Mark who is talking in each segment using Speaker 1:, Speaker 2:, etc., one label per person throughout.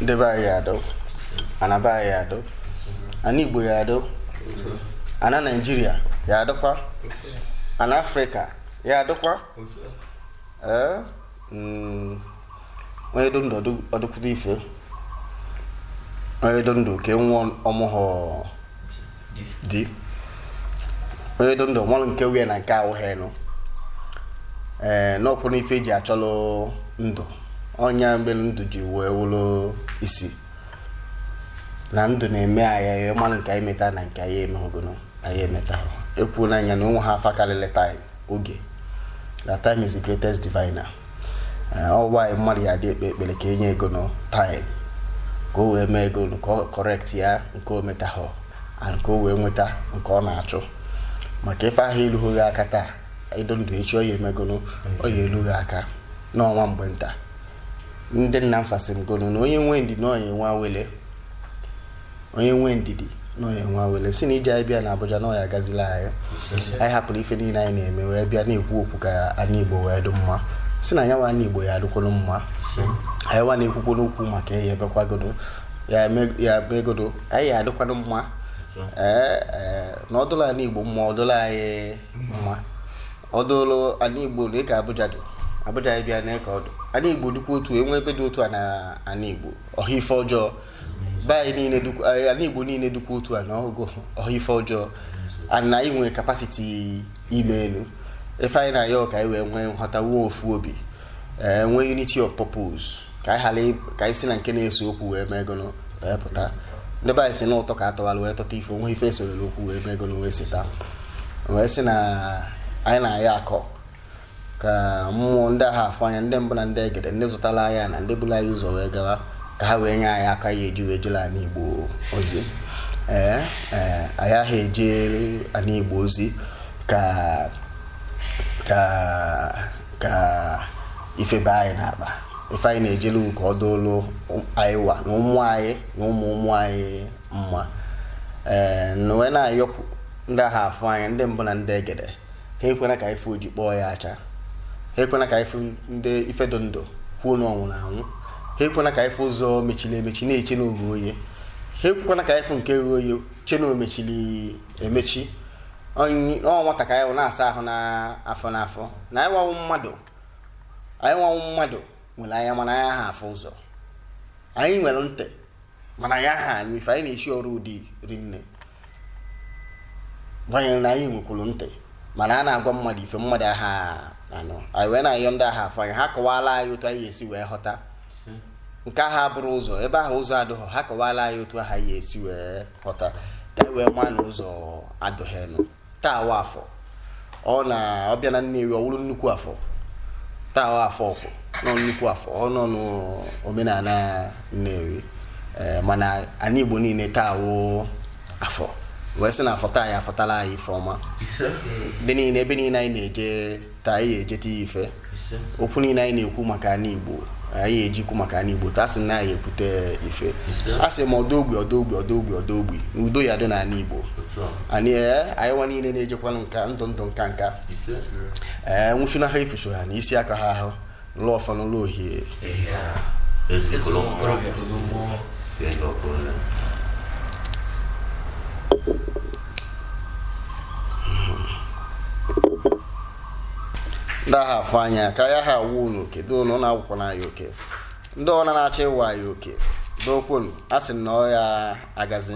Speaker 1: ndị be anyị adọ ana be anyị adọ ana igbo ya adọ ana naijiria ya adọkwa ana afrịka ya adọkwa ee mm, onye dụ ndụ ọ dụ- ọ dụkwudo ife onye dụ ndụ ka enwe ọmụhụ di onye dị ndụ malụ nke wụ ya na nke awụghị nụ ee n'ọkwụ n'ife eji achọlụ ndụ ọ nya melu ndụ ji wee wụlụ isi na ndụ na-eme anyị malụ nke anyị meta na nke anyị emehụ gụnụ anyị emetahụ e kwuo nya na o nweha afa karịrị taịm oge na time is the greatest diviner ọ why mmadụ ya dị ekpe ekpere ka e nye ya gụnụ time ka o wee mee gụnụ ka ọ correct ya nke o metahụ and ka o wee nweta nke ọ na-achụ maka ife ahụ erughị gị aka taa ị dụ ndụ echi ọ ya eme gụnụ ọ ya eru gị aka na ọ nwa mgbe nta ndị nna m fa sị m gụnụ na onye nwee ndidi na ọ nya nwe awele onye nwee ndidi na ọ nya nwe awele sị na ije anyị bịa na Abuja na ọ ya agazilị anyị anyị hapụrụ ife niile anyị na-eme wee bịa na-ekwu okwu ka ana Igbo wee dị mma sị na nyawa ana Igbo ya adịkwanụ mma anyị wa na-ekwukwanụ okwu maka ya ebekwagodo ya egodo anyị ya adịkwanụ mma ee ee na ọ dụlụ ana Igbo mma ọ dụlụ anyị mma ọ dụlụ ana Igbo na ịka Abuja dị Abuja anyị bịa na ịka ọ dụ ana Igbo dịkwa otu enwe ebe dị otu a na ana Igbo ọ ha ife ọjọọ be anyị niile dukwu- anyị- ana igbo niile dukwa otu a na ọgụ ọ ha ife ọjọọ and na anyị nwere kapasiti imelu ife anyị na-ayọ ka anyị wee nwee nghọta nwee ofu obi ee nwee unity of purpose ka anyị ghara ị- ka anyị si na nke na-ese okwu wee mee gụnụ wee pụta ndị be anyị sị na ụtọ ka atọwara wee tọta ife o nwe ife e seere okwu wee mee gụnụ wee seta wee sị na anyị na-ayọkwa ka mmụọ ndị agha afọ anyị ndị mbụ na ndị egede ndị zụtara anyị na ndị bulu anyị ụzọ wee gawa ka ha wee nye anyị aka a ya eji wee jere ana igbo ozi ee ee anyị aha ejere ana igbo ozi ka ka ka ife baa anyị n'akpa ife anyị na-ejelu ka ọ dụlụ anyị wa na ụmụ anyị na ụmụ ụmụ anyị mma ee na wee na-ayọpụ ndị agha afọ anyị ndị mbụ na ndị egede ha ekwena ka anyị fụ oji kpọọ ya ọcha ha ekwena ka anyị fụ ndị ife dị ndụ kwuo na ọ nwụrụ anwụ ha ekwena ka anyị fụ ụzọ mechiri emechi na-eche na o ghe oye ha ekwekwana ka anyị fụ nke ghe oye chee na o mechiri emechi Onye- ọ nwata ka anyị wụ na-asa ahụ n'afọ n'afọ na anyị wa wụ mmadụ anyị wa wụ mmadụ nwere anya mana anyị aha afụ ụzọ anyị nwere ntị mana anyị aha anụ ife anyị na-eshi ọrụ dị rinne banyere na anyị nwekwuru ntị mana a na-agwa mmadụ ife mmadụ aha anụ anyị wee na-ayọ ndị aha afụ anya ha kọwala anyị otu anyị esi wee ghọta nke aha bụrụ ụzọ ebe aha ụzọ adụghọ ha kọwala anyị otu aha anyị esi wee ghọta ka anyị wee ma na ụzọ adụghị nụ taa wụ afọ ọ na ọbịa na Nnewi ọ wụrụ nnukwu afọ taa wụ afọ ukwu nọ nnukwu afọ ọ nọ n'omenala Nnewi ee mana ana Igbo niile taa wụ afọ wee sị na afọ taa ya-afọtala anyị ife ọma dị niile ebe niile anyị na-eje taa anyị ejeta ife okwu niile anyị na-ekwu maka ana igbo anyị eje ikwu maka ana igbo taa sị na anyị ekwute ife a sị ma ọdọ ogbi ọdọ ogbi ọdọ ogbi ọdọ ogbi na udo ya dị n'ana igbo anyị ee anyị nwa niile na-ejekwanụ nka ndụ ndụ nka nka ee nwụchuna ha ife so ha na isi aka ha ahụ lụọ ọfanụ lụọ ohie ndị aha afụ anya ka ya ha awụ unu oke doonụ na agwụ kwụ na ya oke ndị ọna na-achọ ịwa anyị oke dokwunu a sị na ọ ya-agazi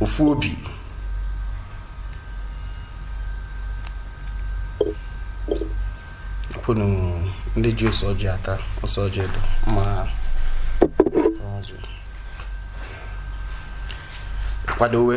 Speaker 1: ofu obi kwunu ndị ji ose ọjị ata ose ọjị dị ma kwadowe